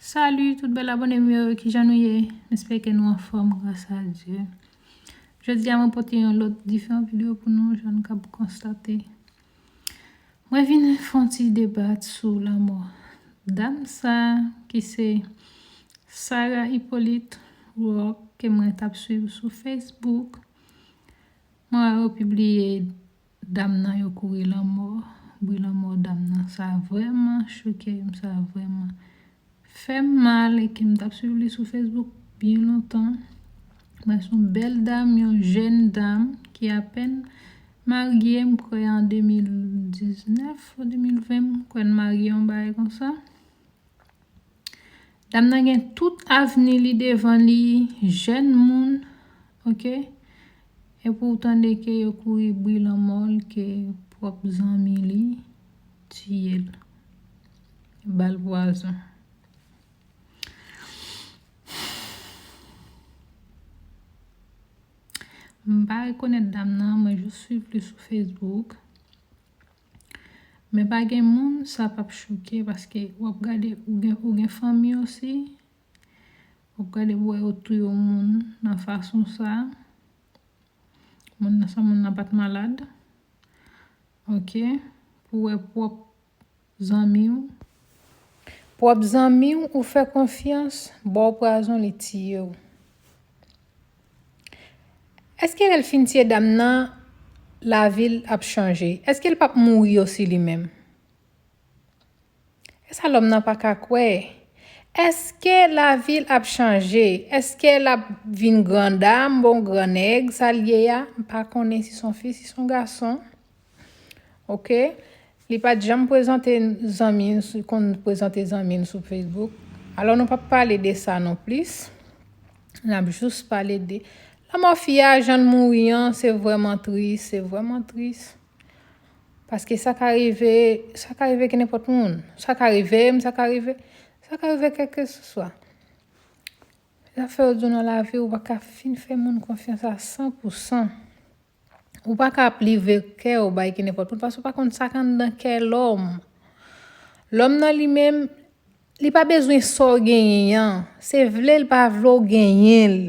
Salut tout bèl abòne m yo kijan nou ye m espere ke nou anfòm gras a Dye jodi a mwen pote yon lòt diferan video pou nou jan nou kab konstate mwen vin fon ti debat sou lanmò dam sa ki se Sarah Hyppolite Rock ke mwen tap swiv sou Facebook mwen wè yo pibliye Dam nan yo kouri lanmò. Bri lanmò dam nan sa vrèman chokem sa vrèman fèm mal e kem tap swiv li sou Facebook byen lontan mwen son bèl dam yon jèn dam ki apèn marye m kwè an 2019 ou 2020 m kwè n marye yon bagay konsa. Dam nan gen tout avni li devan li jèn moun ok epi ou tande ke yo kouri bri lanmòl ke pwòp zanmi li tiyel bal pwazon. M pa rekonèt dam nan mwen jis swiv li sou Facebook. Men pa gen moun sa pap choke paske wap gade ou gen ou gen fanmi osi wap gade pou wè yo tou yo moun nan fason sa moun nan san moun nan pat malad ok pou wè pwòp zanmi ou pwòp zanmi ou ou fè konfyans baw prazon li tiye ou. Eske lèl fin tiye dam nan lavil ap chanje eskel pap mouri osi li menm esa lòm nan paka kwè eske lavil ap chanje eske lap vin grandam bon gran nèg sal ye a mpa konnen si son fi si son gason. Ok Li pat janm prezante zanmi l si konn prezante zanmi l sou Facebook. Alò nou pap pale de sa non plis. Nap jous pale de lanmò fi a jan l mouri an se vrèman tris se vrèman tris. Paske sa ka rive sa ka rive ki nenpòt moun. Sa ka rive m sa ka rive sa ka rive kèlkeswa. Zafè yo di w nan lavi ou pa ka fin fè moun konfyans a san pou san. Ou pa ka ap livre kè ou bay ki nenpòt moun paske ou pa konn sa k anndan kè lòm. Lòm nan li menm, li pa bezwen sa w genyen an. Se vle l pa vle w genyen l.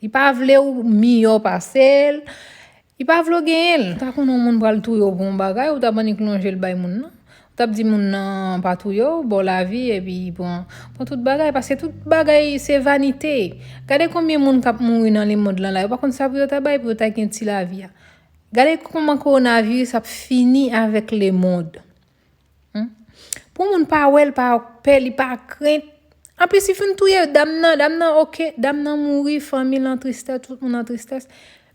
Li pa vle ou miyò pase l. Li pa vle w genyen l. Ou ta konn yon moun pral touye w pou yon bagay, ou ta bann yon klon je l bay moun nan. Tap di moun nan pa touyew baw lavi epi pran pran tout bagay paske tout bagay se vanite gade konbyen moun kap mouri nan lemond lan la yo pa konn sa pou yo ta bay pou yo ta gen ti lavi a gade kòman kowonaviris ap fini avèk lemond humm pou moun pa wèl pa pè li pa krent anplis li finn touye dam nan dam nan ok dam nan mouri fanmil an tristès tout moun an tristès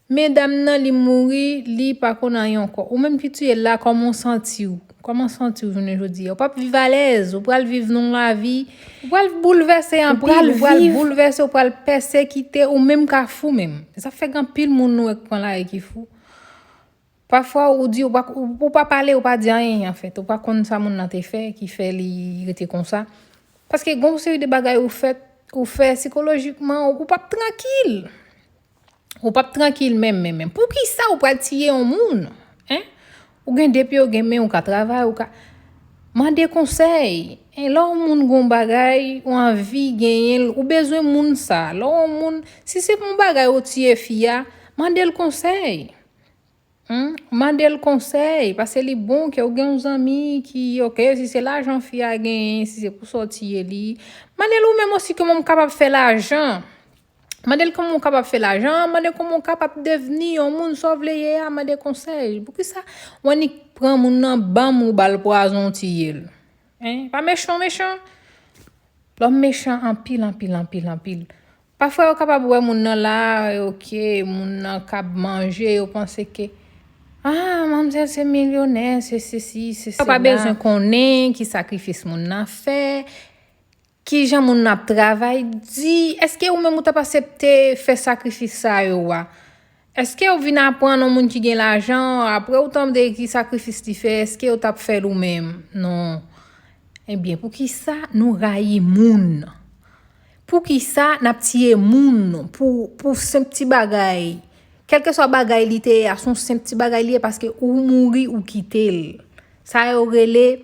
Men dam nan li mouri li pa konn anyen ankò ou menm ki tiyel la kòman w santiw kòman santiw jounen jodi a ou pap viv alèz ou pral viv nan yon lavi ou pral boulvèse anpil ou pral boulvèse ou pral pèsekite ou menm ka fou menm e sa fè gen anpil moun nou wè ki pran lari ki fou pafwa ou di ou pa pale ou pa di anyen anfèt ou pa konn sa moun nan te fè ki fè li rete konsa paske gon seri de bagay ou fè ou fè sikolojikman ou pap trankil. Ou pap trankil menm menm menm. Poukisa ou pral tiye yon moun? Hein? Ou gen de pye, ou gen men, ou ka travay, ou ka mande konsèy. Hein? Lè yon moun gon bagay, ou anvi genyenl, ou bezwen moun sa. Lè yon moun, si se pou yon bagay ou tiye fi a, mandel konsèy. Humm mandel konsèy pase li bon kew gen yon zanmi ki ok si se lajan fi a genyen si se pou sòti ye li mandel ou menm osi komanw kapab fè lajan mandel komanw kapab fè lajan mandel komanw kapab devni yon moun saw vle ye a mande konsèy poukisa ou annik pran moun nan banm ou bal pwazon ou tiyel hein pa mechan mechan lòm mechan anpil anpil anpil anpil Pafwa yo kapab wè moun nan la e ok moun nan kab manje yo panse ke ah manmzèl se milyonè se sesi se sela. Yo pa bezwen konnen ki sakrifis moun nan fè, kijan moun nan ap travay di, eske ou menm ou tap asepte fè sakrifis sa yo a? Eske ou vin aprann yon moun ki gen lajan, apre ou tande ki sakrifis li fè, eske ou tap fèl ou menm? Non. Ebyen poukisa nou rayi moun? Poukisa nap tiye moun pou senp ti bagay? Kelkeswa bagay li te ye a, son senp ti bagay li ye paske ou mouri ou kitel. Sa yo rele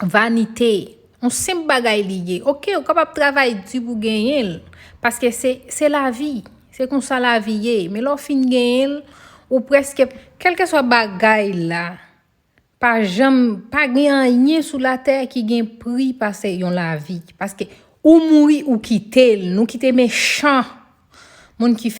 vanite, yon senp bagay li ye. Ok, ou kapab travay di pou genyen l, paske se lavi, se konsa lavi ye. Men lè w fin genyen l, ou preske, kelke swa bagay la, pa janm, pa gen anyen sou latè ki gen pri pase yon lavi. Paske ou mouri, ou kite l, nou kite mechan moun ki fè.